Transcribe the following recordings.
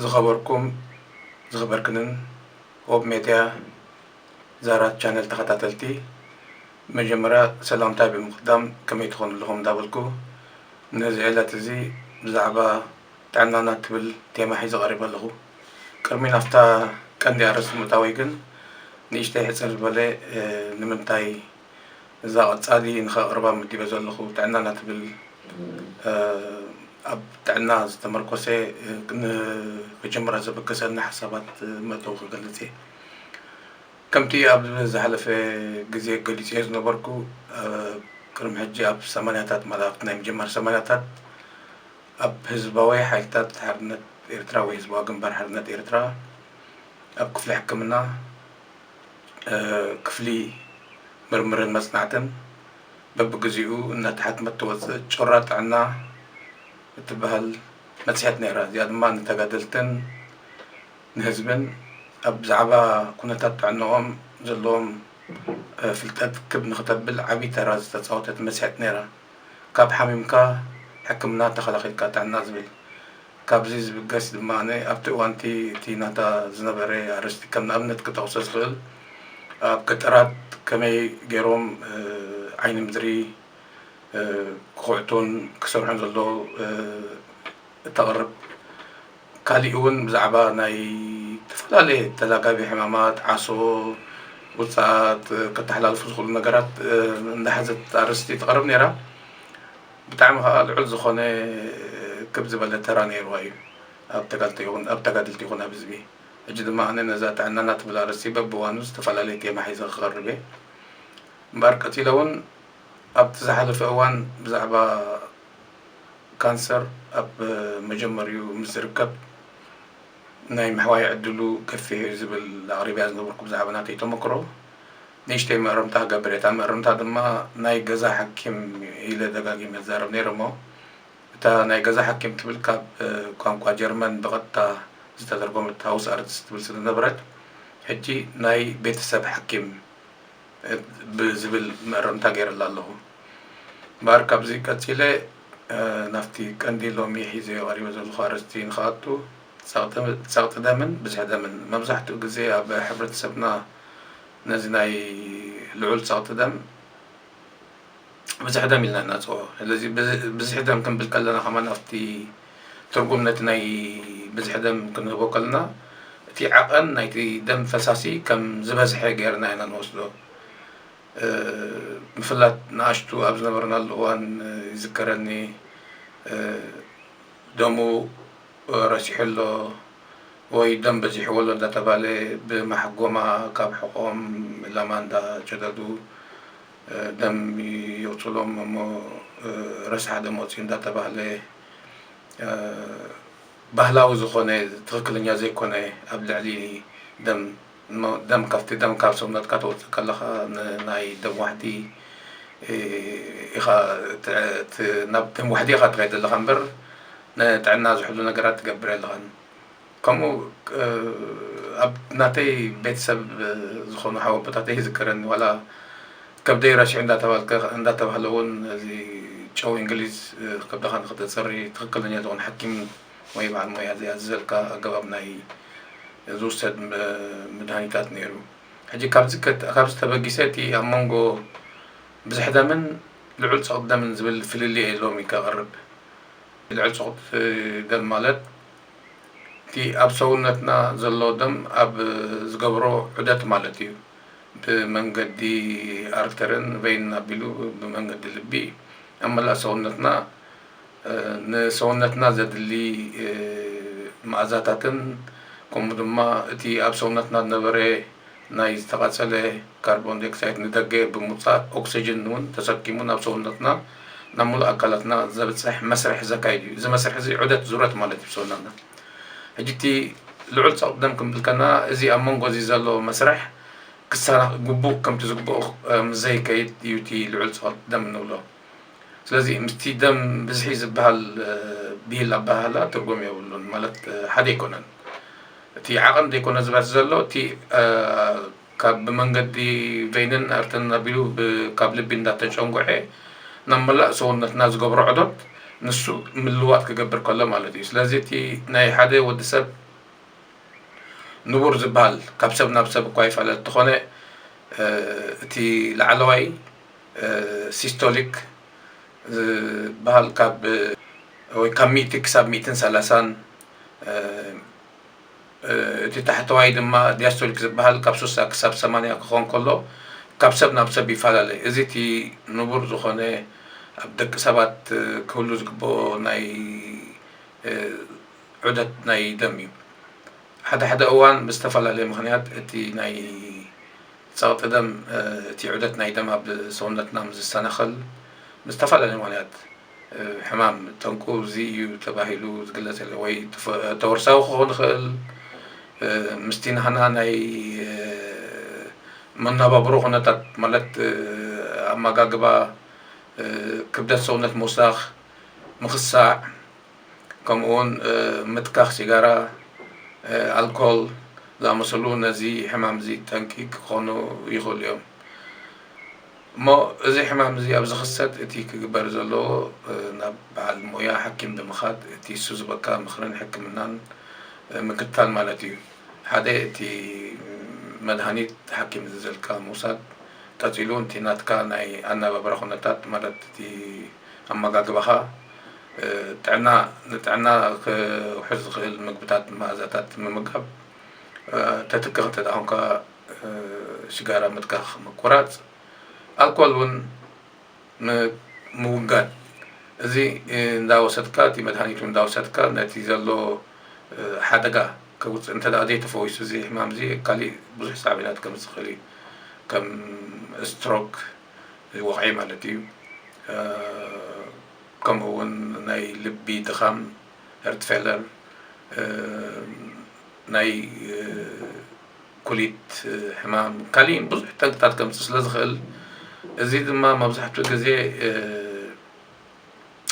ዝኸበርኩም ዝኸበርክንን ሆብ ሜድያ ዛራ ቻነል ተኸታተልቲ መጀመርያ ሰላምታይ ብምቕዳም ከመይ ትኾኑ ኣለኹም እንዳበልኩ ነዚ ዕለት እዚ ብዛዕባ ጥዕናና እትብል ቴማ ሒዘ ቀሪበ ኣለኹ። ቅድሚ ናብታ ቀንዲ ኣርእስቲ ምእታወይ ግን ንእሽተይ ሕጽር ዝበለ ንምንታይ እዛ ቀጻሊ ንኸቕርባ መዲበ ዘለኹ ጥዕናና ትብል ኣብ ጥዕና ዝተመርኮሰ ንኽጅምራ ዘበገሰኒ ሓሳባት መእተዊ ክገልጽ እየ። ከምቲ ኣብ ዝሓለፈ ግዜ ገሊጸዮ ዝነበርኩ ቅድሚ ሕጂ ኣብ ሰማንያታት ማለት ኣብቲ ናይ ምጅማር ሰማንያታት ኣብ ህዝባዊ ሓይልታት ሓርነት ኤርትራ ወይ ህዝባዊ ግንባር ሓርነት ኤርትራ ኣብ ክፍሊ ሕክምና ክፍሊ ምርምርን መጽናዕትን በብግዜኡ እናተሓትመት ትወጽእ ጩራ ጥዕና እትበሃል መጽሔት ነይራ። እዚኣ ድማ ንተጋደልትን ንህዝብን ኣብ ብዛዕባ ኩነታት ጥዕንኦም ዘለዎም ፍልጠት ክብ ንክተብል ዓቢ ተራ ዝተጻወተት መጽሔት ነይራ። ካብ ሓሚምካ ሕክምና ተኸላኺልካ ጥዕና ዝብል ካብዚ ዝብገስ ድማ ኣነ ኣብቲ እዋንቲ እቲ ናታ ዝነበረ ኣርእስቲ ከም ንኣብነት ክጠቕሶ ዝኽእል ኣብ ገጠራት ከመይ ገይሮም ዓይኒ ምድሪ ክኹዕቱን ክሰርሑን ዘሎ እተቕርብ ካሊእ እውን ብዛዕባ ናይ እተፈላለየ ተላጋቢ ሕማማት ዓሶ ውፃኣት ከተሓላልፉ ዝኽእሉ ነገራት እንዳሓዘት ኣርእስቲ ተቕርብ ነይራ ብጣዕሚ ከኣ ልዑል ዝኾነ ክብ ዝበለ ተራ ነይርዋ እዩ ኣብ ተጋልቲ ይኹን ኣብ ተጋድልቲ ይኹን ኣብ ህዝቢ ሕጂ ድማ ኣነ ነዛ ጥዕናና ትብል ኣርእስቲ በብእዋኑ ዝተፈላለየ ቴማ ሒዘ ክቐርብ እየ እምበኣር ቀፂለ እውን ኣብቲ ዝሓለፈ እዋን ብዛዕባ ካንሰር ኣብ መጀመርይኡ ምስ ዝርከብ ናይ ምሕዋይ ዕድሉ ገፊሕ እዩ ዝብል ኣቕሪበያ ዝነበርኩ ብዛዕባ ናተይ ተመክሮ ንእሽተይ መእረምታ እገብር እየ። እታ መእረምታ ድማ ናይ ገዛ ሓኪም ኢለ ደጋጊመ እዛረብ ነይረ እሞ እታ ናይ ገዛ ሓኪም ትብል ካብ ቋንቋ ጀርመን ብቐጥታ ዝተተርጎመት ሃውስ ኣርትስ ትብል ስለዝነበረት ሕጂ ናይ ቤተሰብ ሓኪም ብዝብል መእረምታ ገይረላ ኣለኹ። እምበኣር ካብዚ ቀጺለ ናብቲ ቀንዲ ሎሚ ሒዘዮ ቀሪበ ዘለኹ ኣርእስቲ ንክኣቱ፣ ጸቕጢ ደምን ብዝሒ ደምን፣ መብዛሕትኡ ግዜ ኣብ ሕብረተሰብና ነዚ ናይ ልዑል ጸቕጢ ደም፣ ብዝሒ ደም ኢልና ንነጽጎ። ስለዚ ብዝሒ ደም ክንብል ከለና ከማን ኣብቲ ትርጉም ነቲ ናይ ብዝሒ ደም ክንህቦ ከለና እቲ ዓቐን ናይቲ ደም ፈሳሲ ከም ዝበዝሐ ገይርና ኢና ንወስዶ። ምፍላጥ ንኣሽቱ ኣብ ዝነበርናሉ እዋን ይዝከረኒ ደሙ ረሲሑ ኣሎ ወይ ደም በዚሕዎ ኣሎ እንዳተባለ ብማሕጎማ ካብ ሕቖኦም ላማ እንዳጨደዱ ደም የውጹሎም እሞ ረሳሕ ደም ወጺኡ እንዳተባህለ ባህላዊ ዝኾነ ትኽክለኛ ዘይኮነ ኣብ ልዕሊ ደም እሞ ደም ካብቲ ደም ካብ ሰውነትካ ተውጽእ ከለኻ ንናይ ደም ዋሕዲ ኢኻ ናብ ደም ዋሕዲ ኢኻ ትኸይድ ዘለኻ እምበር ንጥዕና ዝሕሉ ነገራት ትገብር የለኻን ከምኡ ኣብ ናተይ ቤተሰብ ዝኾኑ ሓው ኣቦታተይ ይዝከረኒ ዋላ ከብደይ ረሽዑ እንዳተባልከ እንዳተባህለ እውን እዚ ጨው እንግሊዝ ከብድኻ ንክተፅሪ ትክክለኛ ዝኾነ ሓኪም ወይ በዓል ሞያ ዘይኣዘዘልካ ኣገባብ ናይ ዝውሰድ መድሃኒታት ነይሩ ሕጂ ካብዚ ካብዚ ተበጊሰ እቲ ኣብ መንጎ ብዝሕ ደምን ልዑል ፀቕጢ ደምን ዝብል ፍልልይ የለውም እዩ ከቕርብ ልዑል ፀቕጢ ደም ማለት እቲ ኣብ ሰውነትና ዘሎ ደም ኣብ ዝገብሮ ዑደት ማለት እዩ። ብመንገዲ ኣርተርን ቨይንን ኣቢሉ ብመንገዲ ልቢ ኣብ መላእ ሰውነትና ንሰውነትና ዘድሊ መኣዛታትን ከምኡ ድማ እቲ ኣብ ሰውነትና ዝነበረ ናይ ዝተቓጸለ ካርቦንዳይኦክሳይድ ንደገ ብምውጻእ ኦክስጅን'ውን ተሰኪሙ ናብ ሰውነትና ናብ ምሉእ ኣካላትና ዘብጽሕ መስርሕ ዘካይድ እዩ። እዚ መስርሕ'ዚ ዑደት ዙረት ማለት እዩ ብሰውነትና። ሕጂ እቲ ልዑል ጸቕጢ ደም ክንብል ከለና እዚ ኣብ መንጎ'ዚ ዘሎ መስርሕ ክሰናኽ ግቡእ ከምቲ ዝግበኦ ምስ ዘይከይድ እዩ እቲ ልዑል ጸቕጢ ደም እንብሎ። ስለዚ ምስቲ ደም ብዝሒ ዝብሃል ብሂል ኣበሃህላ ትርጉም የብሉን ማለት ሓደ ኣይኮነን። እቲ ዓቐን ዘይኮነ ዝበዝሕ ዘሎ እቲ ካብ ብመንገዲ ቬይንን ኣርተንን ኣቢሉ ካብ ልቢ እንዳተጨንጉዐ ናብ መላእ ሰውነትና ዝገብሮ ዑደት ንሱ ምልዋጥ ክገብር ከሎ ማለት እዩ። ስለዚ እቲ ናይ ሓደ ወዲ ሰብ ንቡር ዝበሃል ካብ ሰብ ናብ ሰብ እኳ ይፈላለ እንተኾነ እቲ ላዕለዋይ ሲስቶሊክ ዝብሃል ካብ ወይ ካብ ሚእቲ ክሳብ ሚእትን ሰላሳን እቲ ታሕተዋይ ድማ ዲያስቶሊክ ዝብሃል ካብ ሱሳ ክሳብ ሰማንያ ክኾን ከሎ ካብ ሰብ ናብ ሰብ ይፈላለ እዚ እቲ ንቡር ዝኾነ ኣብ ደቂ ሰባት ክህሉ ዝግበኦ ናይ ዑደት ናይ ደም እዩ ሓደ ሓደ እዋን ብዝተፈላለየ ምኽንያት እቲ ናይ ጸቕጢ ደም፣ እቲ ዑደት ናይ ደም ኣብ ሰውነትና ምስ ዝሰናኸል ብዝተፈላለዩ ምኽንያት ሕማም ጠንቁ እዚ እዩ ተባሂሉ ዝግለጽ የለን። ወይ ተወርሳዊ ክኸውን ይኽእል፣ ምስቲ ናህና ናይ መነባብሮ ኩነታት ማለት ኣመጋግባ፣ ክብደት ሰውነት ምውሳኽ፣ ምኽሳዕ፣ ከምኡውን ምትካኽ ሲጋራ፣ ኣልኮል ዝኣመሰሉ ነዚ ሕማም እዚ ጠንቂ ክኾኑ ይኽእሉ እዮም። እሞ እዚ ሕማም እዚ ኣብ ዝኽሰት እቲ ክግበር ዘለዎ ናብ በዓል ሞያ ሓኪም ብምኻድ እቲ እሱ ዝህበካ ምኽርን ሕክምናን ምክታል ማለት እዩ። ሓደ እቲ መድሃኒት ሓኪም ዝእዘልካ ምውሳድ፣ ቀጺሉ እቲ ናትካ ናይ ኣነባብራ ኩነታት ማለት እቲ ኣመጋግባኻ፣ ጥዕና፣ ንጥዕና ክውሕስ ዝኽእል ምግብታትን መኣዛታትን ምምጋብ፣ ተትክኽ እንተ ኾንካ ሽጋራ ምትካኽ፣ ምቁራጽ፣ ኣልኮል ውን ምውጋድ፣ እዚ እንዳወሰድካ እቲ መድሃኒት ውን እንዳወሰድካ ነቲ ዘሎ ሓደጋ ከውጽእ እንተ ዘይተፈዊሱ እዚ ሕማም እዚ ካሊእ ብዙሕ ሳዕቤናት ከምጽእ ይኽእል እዩ ከም ስትሮክ፣ ወቕዒ ማለት እዩ ከምኡ ውን ናይ ልቢ ድኻም ሄርትፌለር ናይ ኩሊት ሕማም ካሊእን ብዙሕ ጠንቅታት ከምፅ ስለ ዝኽእል እዚ ድማ መብዛሕትኡ ግዜ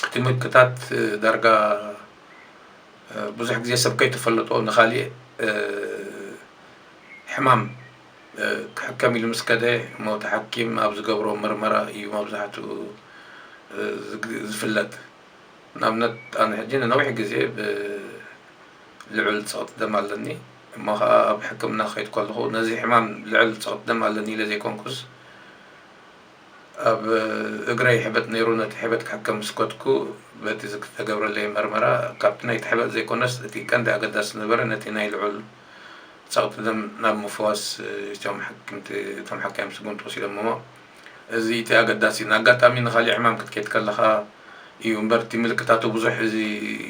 እቲ ምልክታት ዳርጋ ብዙሕ ግዜ ሰብ ከይተፈለጦ ንካሊእ ሕማም ክሕከም ኢሉ ምስ ከደ እሞ እቲ ሓኪም ኣብ ዝገብሮ ምርመራ እዩ መብዛሕትኡ ዝፍለጥ። ንኣብነት ኣነ ሕጂ ንነዊሕ ግዜ ብልዑል ጸቕጢ ደም ኣለኒ እሞ ከኣ ኣብ ሕክምና ክኸይድ ከለኹ ነዚ ሕማም ልዑል ጸቕጢ ደም ኣለኒ ኢለ ዘይኮንኩስ ኣብ እግረይ ሕበጥ ነይሩ ነቲ ሕበጥ ክሕከም ምስ ከድኩ በቲ ዝተገብረለይ መርመራ ካብቲ ናይቲ ሕበጥ ዘይኮነስ እቲ ቀንዲ ኣገዳሲ ዝነበረ ነቲ ናይ ልዑል ጸቕጢ ደም ናብ ምፍዋስ እቶም ሓክምቲ እቶም ሓካይም ስጉምቲ ወሲዶምሞ እዚ እቲ ኣገዳሲ ንኣጋጣሚ ንኻሊእ ሕማም ክትከይድ ከለኻ እዩ እምበር እቲ ምልክታቱ ብዙሕ እዚ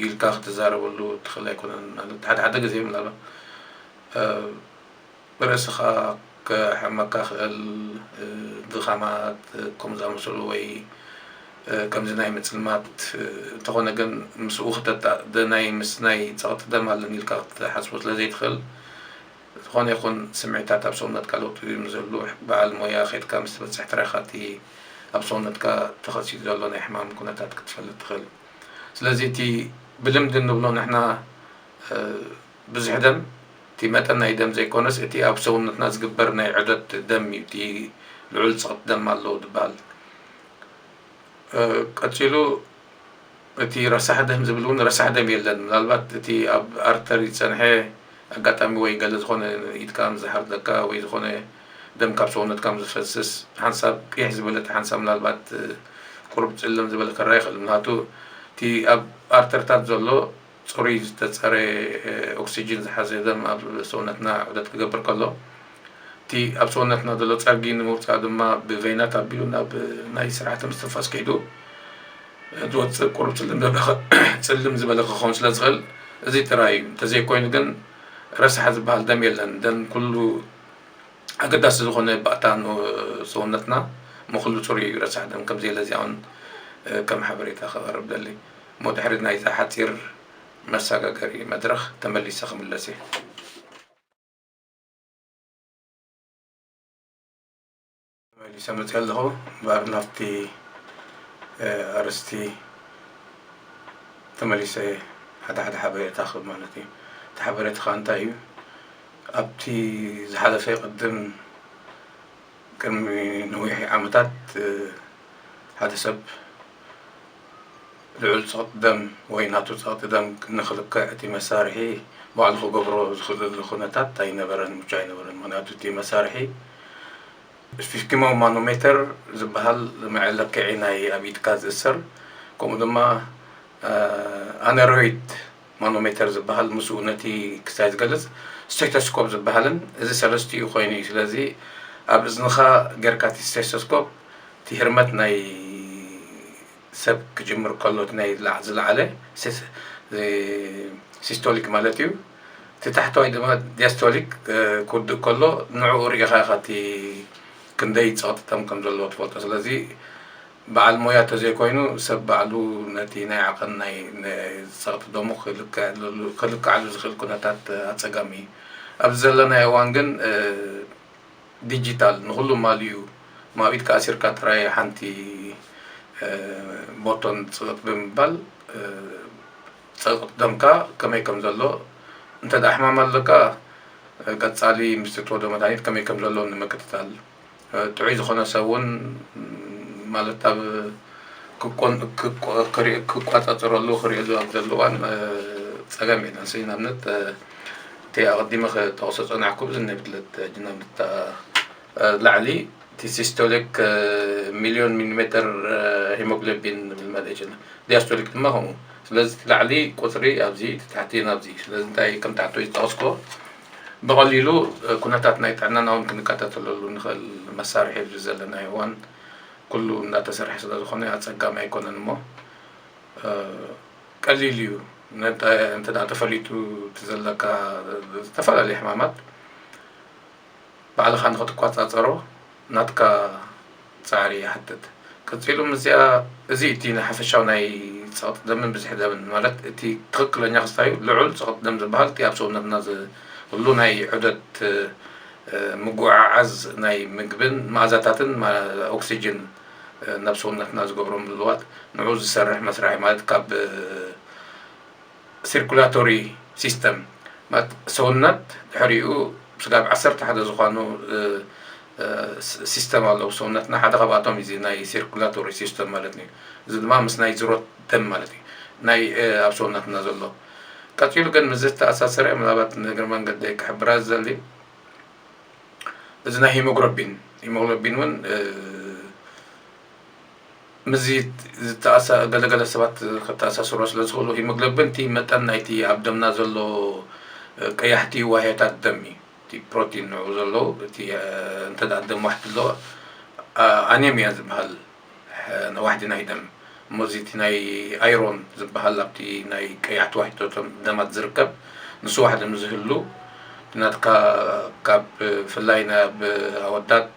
ኢልካ ክትዛረበሉ ትኽእል ኣይኮነን ማለት ሓደ ሓደ ግዜ ምናልባት ብርእስኻ ከሕመካ ክእል ድኻማት ከምዚ ዝኣመሰሉ ወይ ከምዚ ናይ ምጽልማት እንተኾነ ግን ምስኡ ክተታእ ደናይ ምስ ናይ ጸቕጢ ደም ኣለኒ ኢልካ ክትሓስቦ ስለ ዘይትኽእል ዝኾነ ይኹን ስምዒታት ኣብ ሰውነትካ ለውጢ ምስ ዘሉ በዓል ሞያ ከድካ ምስ ትበጽሕ ጥራይ ኢኻ እቲ ኣብ ሰውነትካ ተኸሲቱ ዘሎ ናይ ሕማም ኩነታት ክትፈልጥ ትኽእል ስለዚ እቲ ብልምዲ እንብሎ ንሕና ብዝሒ ደም እቲ መጠን ናይ ደም ዘይኮነስ እቲ ኣብ ሰውነትና ዝግበር ናይ ዑደት ደም እዩ እቲ ልዑል ጽቕት ደም ኣለዎ ዝበሃል። ቀጺሉ እቲ ረሳሕ ደም ዝብል እውን ረሳሕ ደም የለን ምናልባት እቲ ኣብ ኣርተሪ ዝጸንሐ ኣጋጣሚ ወይ ገለ ዝኾነ ኢድካ ዝሓርደካ ወይ ዝኾነ ደም ካብ ሰውነትካ ምስ ዝፈስስ ሓንሳብ ቂሕ ዝበለት ሓንሳብ ምናልባት ቁሩብ ጽልም ዝበለ ከረኣ ይኽእል ምክንያቱ እቲ ኣብ ኣርተርታት ዘሎ ጽሩይ ዝተጸረየ ኦክስጅን ዝሓዘ ደም ኣብ ሰውነትና ዑደት ክገብር ከሎ፣ እቲ ኣብ ሰውነትና ዘሎ ጸርጊ ንምውጻእ ድማ ብቬናት ኣቢሉ ናብ ናይ ስርዓተ ምስትንፋስ ከይዱ ዝወጽእ ቁሩብ ጽልም ዝበለ ክኸውን ስለ ዝኽእል እዚ ጥራይ እዩ። እንተዘይኮይኑ ግን ረሳሕ ዝበሃል ደም የለን። ደም ኩሉ ኣገዳሲ ዝኾነ ባእታ ሰውነትና እሞ ኩሉ ጽሩይ እዩ፣ ረሳሕ ደም ከምዘየለ እዚኣ ውን ከም ሓበሬታ ከቐርብ እደሊ። እሞ ድሕሪ ናይዛ ሓጺር መሳጋገሪ መድረኽ ተመሊሰ ክምለስ እየ። ተመሊሰ መጺኣ ኣለኹ እምበኣር ናብቲ ኣርእስቲ ተመሊሰ ሓደ ሓደ ሓበሬታ ክህብ ማለት እዩ። እቲ ሓበሬታ ከኣ እንታይ እዩ ኣብቲ ዝሓለፈ ቅድም ቅድሚ ነዊሕ ዓመታት ሓደ ሰብ ልዑል ጸቕጢ ደም ወይ ናቱ ጸቕጢ ደም ንክልክዕ እቲ መሳርሒ ባዕሉ ክገብሮ ዝክእለሉ ኩነታት ኣይነበረን፣ ምቹእ ኣይነበረን። ምክንያቱ እቲ መሳርሒ ስፊስኪማዊ ማኖሜተር ዝበሃል መዐለክዒ ናይ ኣብ ኢድካ ዝእሰር ከምኡ ድማ ኣነሮይድ ማኖሜተር ዝበሃል ምስኡ ነቲ ክስታይ ዝገልጽ ስቴቶስኮፕ ዝበሃልን እዚ ሰለስቲኡ ኮይኑ እዩ ስለዚ ኣብ እዝንኻ ገርካ እቲ ስቴቶስኮፕ እቲ ህርመት ናይ ሰብ ክጅምር ከሎ እቲ ናይ ዝለዓለ ሲስቶሊክ ማለት እዩ እቲ ታሕተዋይ ድማ ዲያስቶሊክ ክውድእ ከሎ ንዕኡ ርኢኻ ኢኻ እቲ ክንደይ ጸቕጢ ከም ከም ዘለዎ ትፈልጦ ስለዚ በዓል ሞያ ተዘይኮይኑ ሰብ ባዕሉ ነቲ ናይ ዓቐን ናይ ጸቕጢ ደሙ ክልክዓሉ ዝኽእል ኩነታት ኣጸጋሚ እዩ። ኣብዚ ዘለናዮ እዋን ግን ዲጂታል ንኹሉ ማሊኡ እሞ ኣብ ኢድካ ኣሲርካ ጥራይ ሓንቲ ቦቶን ጽቕጥ ብምባል ጸቕጢ ደምካ ከመይ ከም ዘሎ እንተድኣ ሕማም ኣለካ ቀጻሊ ምስ እትወዶ መድሃኒት ከመይ ከም ዘሎ ንምክትታል ጥዑይ ዝኾነ ሰብ ውን ማለት ኣብ ክቋጻጸረሉ ክሪኦ ኣብ ዘሎ እዋን ጸገም የለን ሲ ንኣብነት እቲ ኣቐዲመ ክጠቕሶ ዝጸናሕኩ ብዚ ናይ ብትለት ጅናምታ ላዕሊ እቲ ሲስቶሊክ ሚልዮን ሚሊሜተር ሂሞግሎቢን ንብል ማለት ይችላል ዲያስቶሊክ ድማ ከምኡ ስለዚ እቲ ላዕሊ ቁጽሪ ኣብዚ እቲ ታሕቲ ናብዚ ስለዚ እንታይ ከም ታሕቲ ዝጠቕስኩዎ ብቐሊሉ ኩነታት ናይ ጥዕናና ውን ክንከታተለሉ ንኽእል መሳርሒ ኣብዚ ዘለናዮ እዋን ኩሉ እንዳተሰርሐ ስለዝኾነ ኣፀጋሚ ኣይኮነን እሞ ቀሊል እዩ እንተ ተፈሊጡ እቲ ዘለካ ዝተፈላለዩ ሕማማት ባዕልኻ ንኽትቆፃፀሮ ናትካ ጻዕሪ ይሓትት። ቀጺሉ ምስዚኣ እዚ እቲ ንሓፈሻዊ ናይ ጸቕጢ ደምን ብዝሒ ደምን ማለት እቲ ትኽክለኛ ክስታዩ ልዑል ጸቕጢ ደም ዝበሃል እቲ ኣብ ሰውነትና ዝህሉ ናይ ዑደት ምጉዕዓዝ ናይ ምግብን መኣዛታትን ኦክስጅን ናብ ሰውነትና ዝገብሮ ምልዋጥ ንዑ ዝሰርሕ መስርሕ ማለት ካብ ሲርኩላቶሪ ሲስተም ማለት ሰውነት ድሕሪኡ ስጋብ ዓሰርተ ሓደ ዝኾኑ ሲስተም ኣለዉ ሰውነትና ሓደ ካብኣቶም እዚ ናይ ሲርኩላቶሪ ሲስተም ማለት እዩ እዚ ድማ ምስ ናይ ዝሮት ደም ማለት እዩ ናይ ኣብ ሰውነትና ዘሎ ቀፂሉ ግን ምስ ዝተኣሳሰረ ምናልባት ንእግሪ መንገዲ ክሕብራ ዝዘሊ እዚ ናይ ሂሞግሎቢን ሂሞግሎቢን እውን ምስዚ ዝተኣሳ ገለ ገለ ሰባት ከተኣሳስርዎ ስለ ዝኽእሉ ሂሞግሎብን እቲ መጠን ናይቲ ኣብ ደምና ዘሎ ቀያሕቲ ዋህዮታት ደም እዩ እቲ ፕሮቲን ንዕኡ ዘሎ እቲ እንተ ደም ዋሕዲ ኣሎ ኣኔምያ ዝበሃል ዋሕዲ ናይ ደም እሞ እዚ እቲ ናይ ኣይሮን ዝበሃል ኣብቲ ናይ ቀያሕቲ ዋሕዲቶቶም ደማት ዝርከብ ንሱ ዋሕዲ ምስ ዝህሉ ናትካ ካብ ብፍላይ ናብ ኣወዳት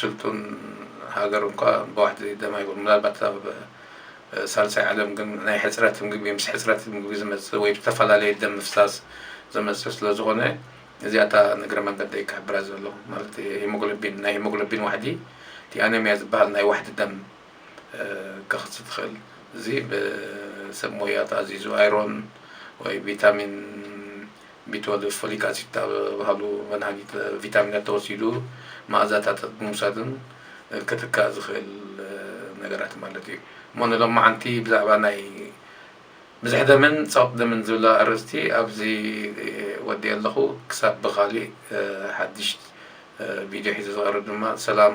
ስልጡን ሃገር እኳ ብዋሕዲ ደም ኣይኮነን ምናልባት ኣብ ሳልሳይ ዓለም ግን ናይ ሕጽረት ምግቢ ምስ ሕጽረት ምግቢ ዝመጽእ ወይ ብዝተፈላለየ ደም ምፍሳስ ዝመጽእ ስለ ዝኾነ እዚኣ እታ ንእግረ መንገደይ ክሕብራ ዘለኹ ማለት ሂሞግሎቢን ናይ ሂሞግሎቢን ዋሕዲ እቲ ኣነሚያ ዝበሃል ናይ ዋሕዲ ደም ከክት ትክእል እዚ ብሰብ ሞያ ተኣዚዙ ኣይሮን ወይ ቪታሚን ቢትወልቭ ፎሊክ ኣሲድ ዝተባህሉ መድሃኒት ቪታሚናት ተወሲዱ መኣዛታታት ብምውሳድን ክትካእ ዝኽእል ነገራት ማለት እዩ እሞ ንሎማዓንቲ ብዛዕባ ናይ ብዝሕ ደምን ፀቕጥ ደምን ዝብላ ኣርእስቲ ኣብዚ ወዲ ኣለኹ ክሳብ ብካሊእ ሓድሽ ቪድዮ ሒዘ ዝቐርብ ድማ ሰላም